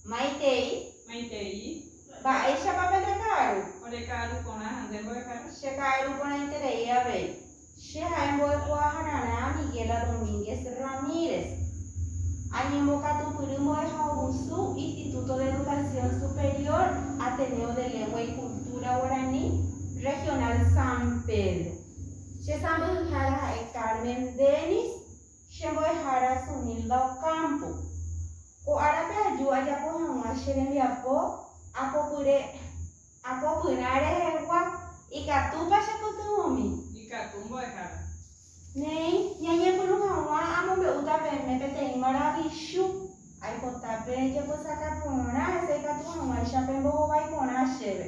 Maitei. Maitei. Mba'éichapa pende ka'aru? Ore ka'aru porã ha nde mbo'ehára. Che ka'aru porãiterei avei. Che ha'e mbo'ekuaahararã Miguela Domínguez Ramírez. Añembokatupyry mbo'ehaovusu Instituto de Educación Superior Ateneo de Lengua y Cultura Guaraní Regional San Pedro. Che sãmbyhyhára ha'e Carmen Denis Che mbo'ehára Sunilda Ocampo. Ko árape aju ajapo hag̃ua che rembiapo apopyre, apopyrã rehegua, ikatúpa chepytyvõmi? Ikatu mbo'ehára. Néi, ñañepyrũ hag̃ua amombe'úta peẽme peteĩ maravichu. Aipota pejepysaka porã hese ikatu hag̃uáicha pembohovái porã chéve.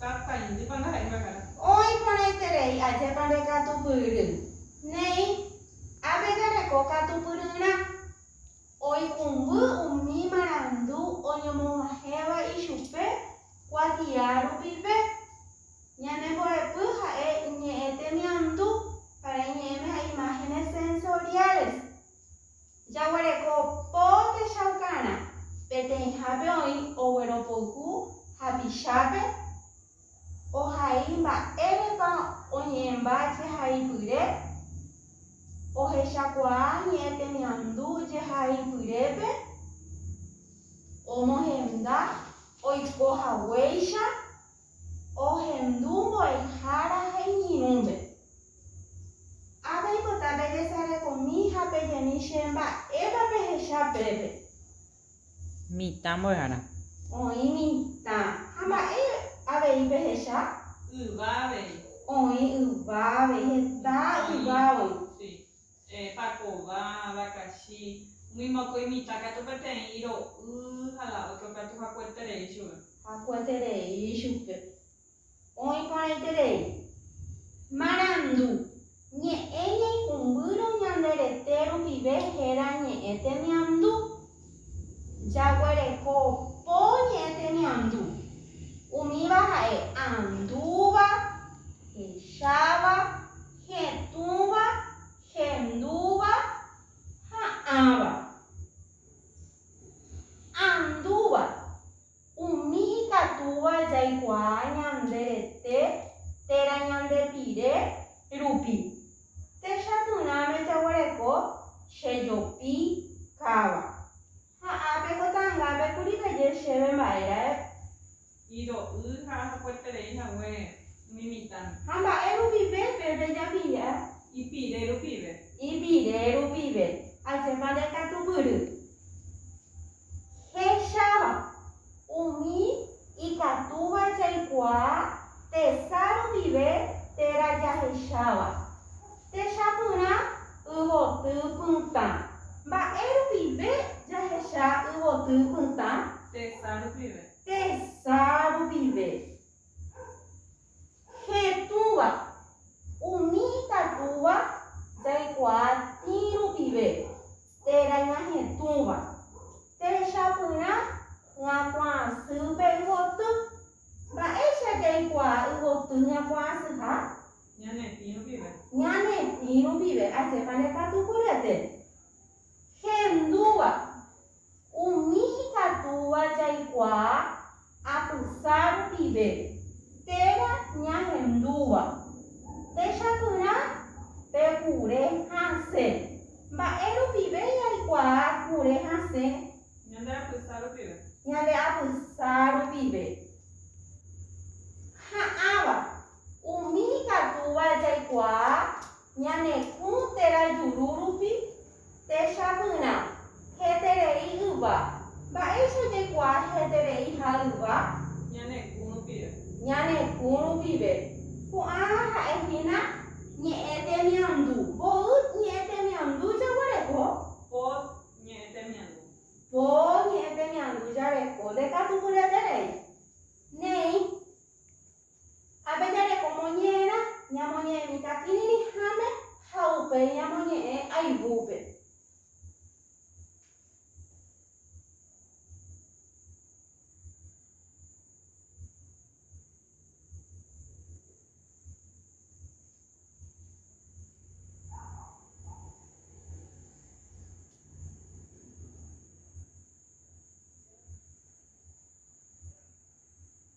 Tataindýpa ndaha'éi mbarkáta. Oĩ porãiterei ajépa nde katupyry. Néi, ápe jareko katupyryrã. Oikũmby umi marandu oñomoguahẽva ichupe kuatia rupive. Ñane mbo'epy ha'e iñe'ẽ temiandu para iñe'ẽme ha imágenes sensoriales. Jaguereko po techaukarã peteĩhápe oĩ ogueropoyhu hapichápe, ohai mba'érepa oñe'ẽmba jehaipyre, ohechakuaa ñe'ẽ temiandu jehaipyrépe, omohenda oiko haguéicha. Ohendu mbo'ehára ha iñirũnte. Ha peipota pejesarekomi ha pejemi che mba'épa pehecha pépe. Mitã mbo'ehára. Oĩ mitã. Ha mba'e avei pehecha? Yva avei. Oĩ yva avei. Heta yva oĩ. pakova, vakachi, umi mokõi mitã katu peteĩ iro'y ha la ótro katu hakueterei chupe. Hakueterei chupe. Oĩ porãiterei. Marandu, ñe'ẽ ñaikumbýrõ ñande rete rupive héra ñe'ẽ temiandu. Jaguereko po ñe'ẽ temiandu. Umíva ha'e andúva, hecháva, Hetũva, hendúva, ha'ãva. Andúva, umi ikatúva jaikuaa ñande rete térã ñande pire rupi. Techatũrãme jaguereko chejopi káva. Ha ápe Kotangápe kuri peje chéve mba'e ra'e. Iro'y ha ahakueterei hague umi mitãme. Ha mba'e rupive pe rejapilla. Ipire rupive. Ipire rupive. Ajépa ndekatupyry. Hecháva. Umi ikatúva jaikuaa tesa rupive térã jahecháva. Techapyrã yvoty pytã. Mba'e rupive jahecha yvoty pytã? Tesa rupive. Tesa rupive. Che túva, umi ikatúva jaikuaa tĩ rupive, térã ñahetũva. Techapyrã ñakuaasýpe yvoty. Mba'éicha jaikuaa yvoty ñakuaasyha? Ñanepĩ rupive. Ñanepĩ rupive. Ajépa nde katu pyryete. Hendúva, Umi ikatúva jaikuaa atysa rupive, térã ñahendúva. Techapyrã pe kure hasẽ. Mba'e rupive jaikuaa kure hasẽ? Ñande apysa rupive. Ñande apysa rupive. Ha'ãva, umi ikatúva jaikuaa Ñane'ũ térã juru rupi, techapyrã, heterei yva. Mba'éicha jaikuaa heterei ha yva? Ñane'ũ rupive. Ñane'ũ rupive. Ko'ã ha'e hína ñe'ẽ temiandu. Mboy ñe'ẽ temiandu jaguereko. Pot ñe'ẽ temiandu. Po ñe'ẽ temiandu jareko. Ndekatupyreterei. Néi. Ha pejareko moñe'ẽrã ñamoñe'ẽ mitãkirirĩháme ha upéi ñamoñe'ẽ ayvúpe.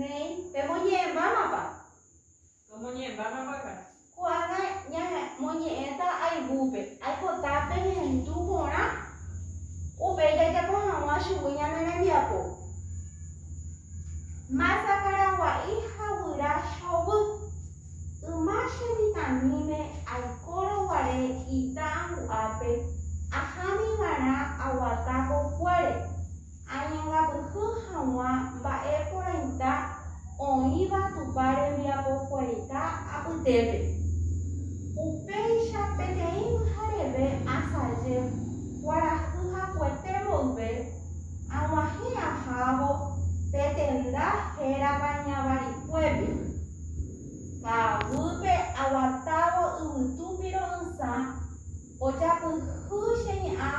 Néi, pemoñe'ẽmbámapa? Tomoñe'ẽmbámapaka. Ko'ág̃a ñamoñe'ẽta ayvúpe. Aipota pehendu porã, upéi jajapo hag̃ua chugui ñane rembiapo. Marta Caragua'i ha guyra chovy. Yma che mitãmíme aikórõ guare ita angu'ápe, ahámi va'erã aguata pokuére, añangapyhy haguã mba'e porãita oĩva Tupã rembiapokuaita apytépe. Upéicha peteĩ pyhareve asaje kuarahy hakuete mboyve, aguahẽ ahávo pe tenda hérava Ñavarikuépe. Ha aguype aguatávo yvytu piro'ỹsa, ojapyhy che ñe'ã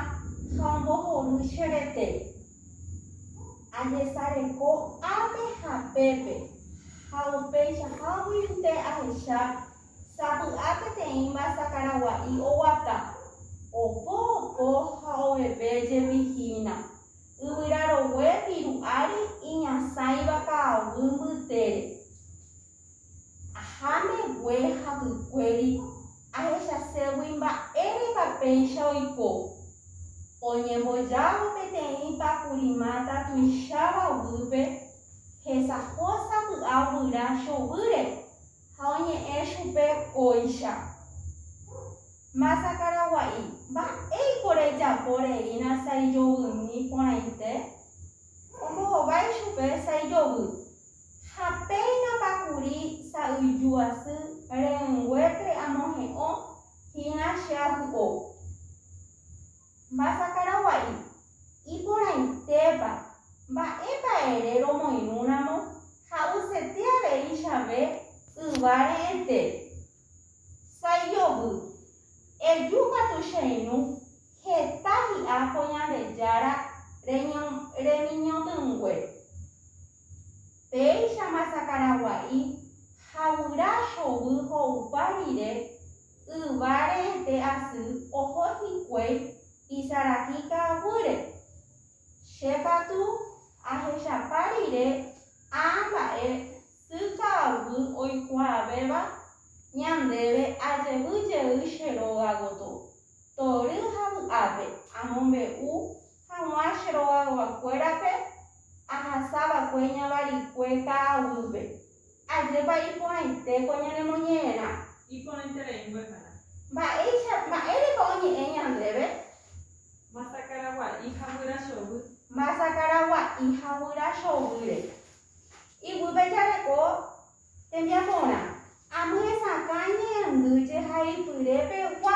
ha ombohory che rete. Ajesareko ápe ha pépe, ha upeichaháguinte ahecha sapy'a peteĩ mbyasakaragua'i oguata, opo opo ha oveve jepi hína. Yvyra rogue viru ári iñasãiva ka'aguy mbytére. Aha megue hapykuéri ahechaségui mba'érepa péicha oiko. Oñembojávo peteĩ pakuri máta tuicháva guýpe, hesaho sapy'a guyra chovýre. Ha oñe'ẽ chupe kóicha. Masa Karagua'i, mba'éiko rejapo reína saijovymi porãite? Ombohovái chupe saijovy. Ha péinapa kuri sa'yju asy re'ỹnguépe amohe'õ hína che avy'o. Mba'asakaragua'i, iporãitépa, mba'épa ere romoirũramo ha'usete aveichavẽ yva re'ẽte? Saijovy, eju katu che irũ heta hi'a ko Ñandejára remiñotỹngue. Péicha mba'asakaragua'i ha guyra chovy ho'upa rire Yva rehete asy oho hikuái isaraki ka'aguýre. Che katu ahechapa rire ã mba'e sy ka'aguy oikuaavéva ñandéve ajevy jey che róga gotyo, tory ha vy'ápe amombe'u haguã che rogaguakuérape ahasa va'ekue ñavarikue ka'aguýpe. Ajépa iporãite ko ñanemoñe'ẽrã? Iporãiterei mbyhyra. Mba'éicha, mba'érepa oñe'ẽ ñandéve? Masakaragua'i ha guyra chovy. Masakaragua'i ha guyra chovýre. Iguýpe jareko tembiaporã. Amyesakã iñe'ẽndy jehaipyre pegua.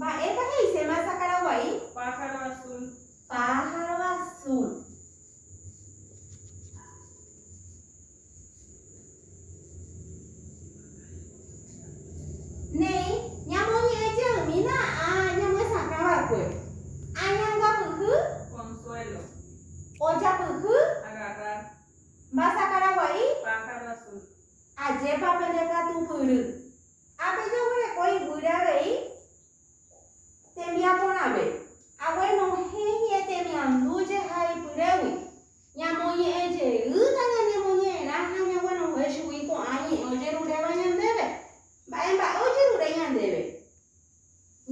Mba'épa he'iséma sakara guai? Pájaro azul. Pájaro azul. Néi, ñamoñe'ẽ jeýmina ha ñamyesakã va'ekue. Añangapyhy. Consuelo. Ojapyhy. Agarrar. Mbasa karagua'i. Pájaro azul. Ajépa pende katupyry ha pejaguereko iguýre avei tembiaporãve. Aguenohẽ ñe'ẽtemiandu jehaypyrégui. Ñamoñe'ẽ jeýta ñanemoñe'ẽrã ha ñaguenohẽ chugui ko'ã ñe'ẽ ojeruréva ñandéve. Mba'e mba'e ojerure ñandéve?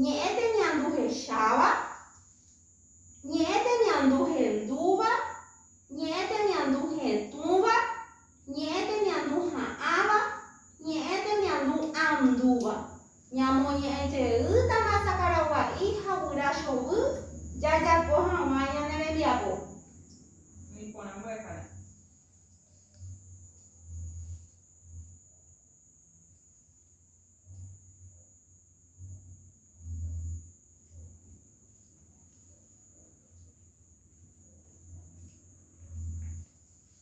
Ñe'ẽ temiandu hecháva, ñe'ẽ temiandu hendúva, ñe'ẽ temiandu hetũva, ñe'ẽ temiandu ha'ãva, ñe'ẽ temiandu andúva. Ñamoñe'ẽjeýtama sakaragua'i ha guyra chovy jajapo hag̃ua ñane rembiapo. Umi porã mbyakara.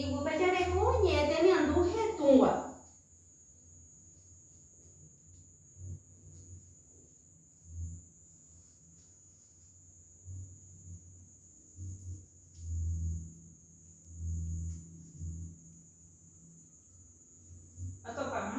Iguýpe jareko ñe'ẽ temiandu hetũva. Atopáma.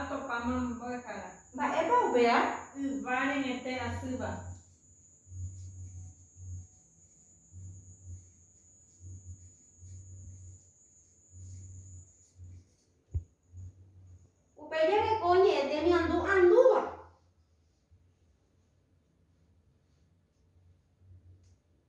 Atopáma mbo'ehára. Mba'épa upéva? Yva reñete asýva. Upe jareko ñe'ẽ temiandu andúva.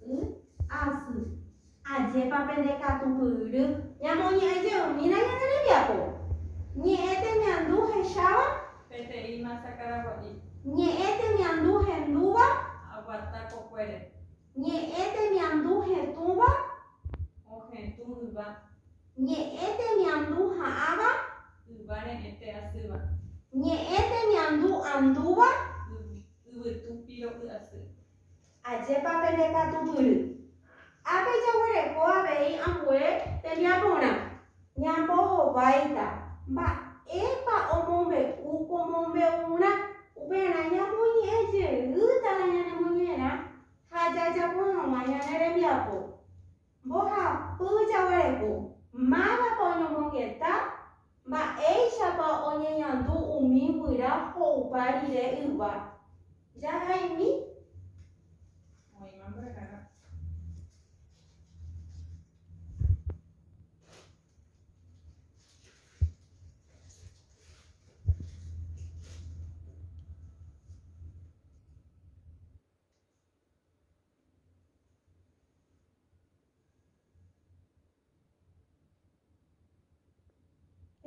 Y asy. Ajépa pende katupyry! Ñamoñe'ẽ jeymína ñane rembiapo. Ñe'ẽ temiandu hecháva. Peteĩ masa karagua'i. Ñe'ẽ temiandu hendúva. Aguata kokuére. Ñe'ẽ temiandu hetũva. Ohetũ yva. Ñe'ẽ temiandu ha'ãva. Yva re'ẽte asýva. Ñe'ẽ temiandu andúva. Yvytu piro'y asy. Ajépa pene katupyry! Ápe jaguereko avei ambue tembiaporã. Ñambohováita mba'épa omombe'u ko mombe'urã. Upearã ñamoñe'ẽ jeýtava ñanemoñe'ẽrã ha jajapo hag̃ua ñane rembiapo. Mbohapy jaguarepu. Mávapa oñomongeta? Mba'éichapa oñeñandu umi guyra ho'upa rire yva? Jahaimi. Oĩma mborahara.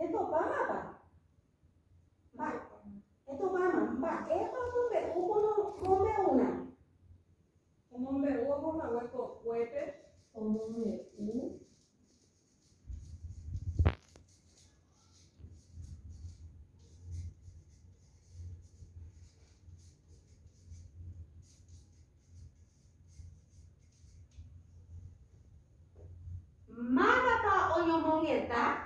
Etupãmapa? Mba, etupãma, mba'épa omombe'u mombe'úna? Omombe'u oho hague kokuépe. Omombe'u Mávapa oñomongeta?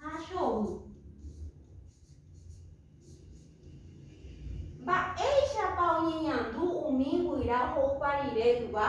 Ha chovy. Mba'éichapa oñeñandu umi guyra oho'upa rire yva?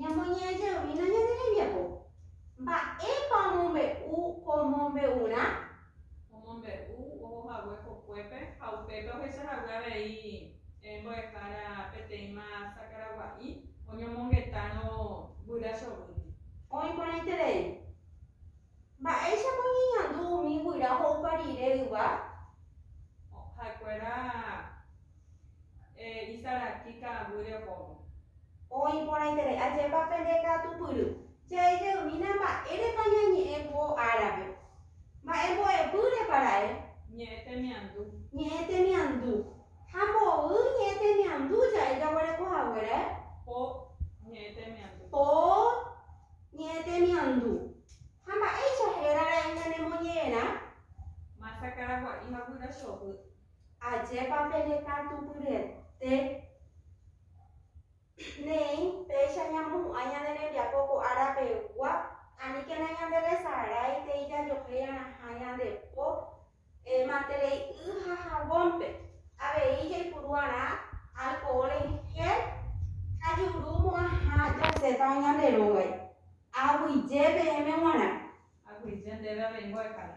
Ñamoñe'ẽjeýna ñane rembiapo. Mba'épa omombe'u ko mombe'urã? Omombe'u oho hague kokuépe ha upépe ohecha hague avei mbo'ehára peteĩma sakaragua'i oñomongetárõ guyra chovýndi. Oĩ porãiterei. Mba'éichapa oñeñandu umi guyra ho'upa rire yva? Ha'ekuéra isaraki ka'aguýre ohóvo. Oĩ porãiterei ajépa pende katupyry. Jaijeýmina mba'érepa ñañe'ẽ ko árape. Mba'e mbo'epýrepa ra'e? Ñe'ẽ temiandu. Ñe'ẽ temiandu. Ha mboy ñe'ẽ temiandu ja'e jaguereko hague ra'e? Po ñe'ẽ temiandu. Po ñe'ẽ temiandu. Ha mba'éicha héra ra'e ñanemoñe'ẽrã? Masa karagua'i ha guyra chovy. Ajépa peñekatupyryete neĩ péicha ñamohu'ã ñane rembiapo ko árapegua, aníkena ñanderesaráitei jajohéira'ãha ñande po matere'i y ha havónpe, avei jaipuru'arã alkohól en gél ha jurumo'ãha jasétava ñande rógagui. Aguyje peẽme g̃uarã. Aguyje ndéve avei mbo'ehára.